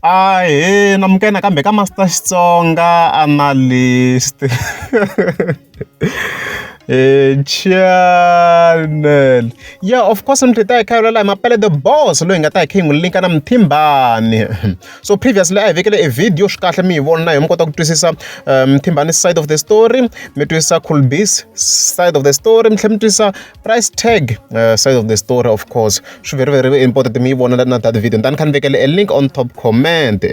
Ahee amukeleni nakambe ka Master Xitsonga Analyst. Channel ya of course mintlhontlho ta hi kha yi vulavula hi Mapele the boss loyi hi nga ta hi kha hi n'wi link-a na Muthimbani. So previously a hi vekele e video swi kahle mi yi vona na yoho mi kota ku twisisa Muthimbani's side of the story, mi twisisa Colby's side of the story mi tlhela mi twisisa price tag uh, side of the story of course swi very very important mi yi vona na that video ndani kha ni vekele a link on top comment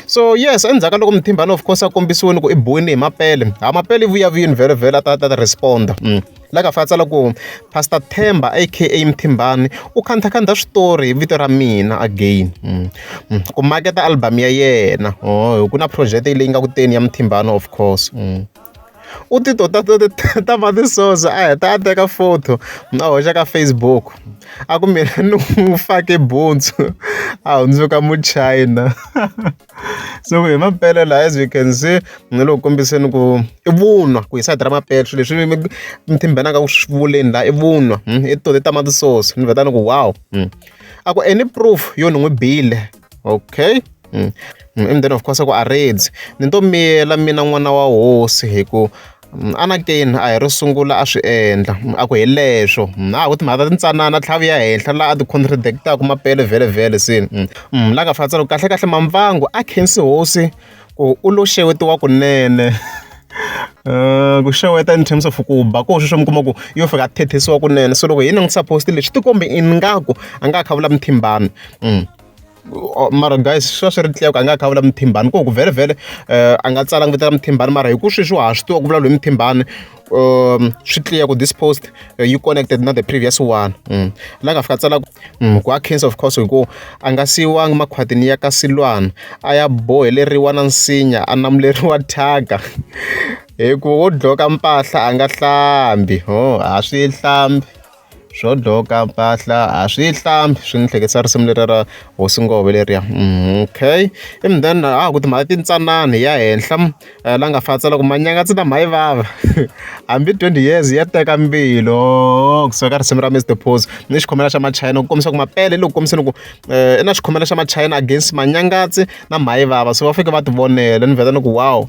so yes endzhaku ka loko muthimbani of course a kombisiwini ku i boyini hi mapele ha mapele i vuya vuyini very very a ta ta responda mm. la ka fa tsala ku pastor themba aka mthimbani u khanthakhandha switori hi vito ra mina again mm. Mm. ku maketa album ya yena oh, ku na project leyi nga ku teni ya mthimbani of course mm. u ti to ta to ta ma ti soso a heta a teka photo a hoxa ka Facebook a ku mina ni n'wi fake buntsu a hundzuka muchayina so hi mampela la as you can see ni lo kombiseni ku i vunwa ku hi sayiti ra mampela swilo leswi mi mi thimbenaka ku swi vuleni la i vunwa hmm, i to ta ma ti soso ni vheta ni ku wow hmm. a ku any proof yo ni n'wi bile okay mm. mm. and then of course ku a redzi ni to miyela mina n'wana wa hosi hi ku mm, anakeni a hi ro sungula a swi endla mm, a ku hi leswo a ha ku timhaka ta tintsanana tlhavi ya henhla laha a ti-contradictaku mapele vhele vhele sini la ka fatsalo kahle kahle mamvangu a khensi hosi ku u lo xewetiwa kunene. ku xeweta in terms of ku ba koho sweswiya mi kuma ku yo fika a thethisiwa kunene so loko hi langutisa post leyi swi ti kombi ingaku a nga ha kha a vula muthimbani mara guys swi va swi ri a nga ha kha a vula muthimbani ku ku vhele vhele a nga tsala ku vitana muthimbani mara hi ku sweswi wa ha swi tiva ku vulavula hi muthimbani. um swi clear ku this post uh, you connected na the previous one mm. la nga fika tsala ku mm, a cancer of course hikuva a nga siyiwangi makhwatini ya ka silwana a ya boheleriwa na nsinya a namuleriwa thyaka hikuva wo dloka mpahla a nga hlambi ho a swi hlambi Swo doka mpahla a swi yi hlambi swi ni hleketisa risimu leriya ra hosi Nghovo leriya okay ivi then a ha ku timhaka tintsanana hi ya henhla la nga fa a tsala ku manyanga tsina mhani vava hambi twenty years ya teka mbilu ohoo kusuka ka risimu ra Mister Pose ni xikhomela xa machayina ku kombisa ku Mapele loko kombiseni ku i na xikhomela xa machayina against Manyangatsi na mhani vava so va fike va ti vonela ni vheta ni ku wow.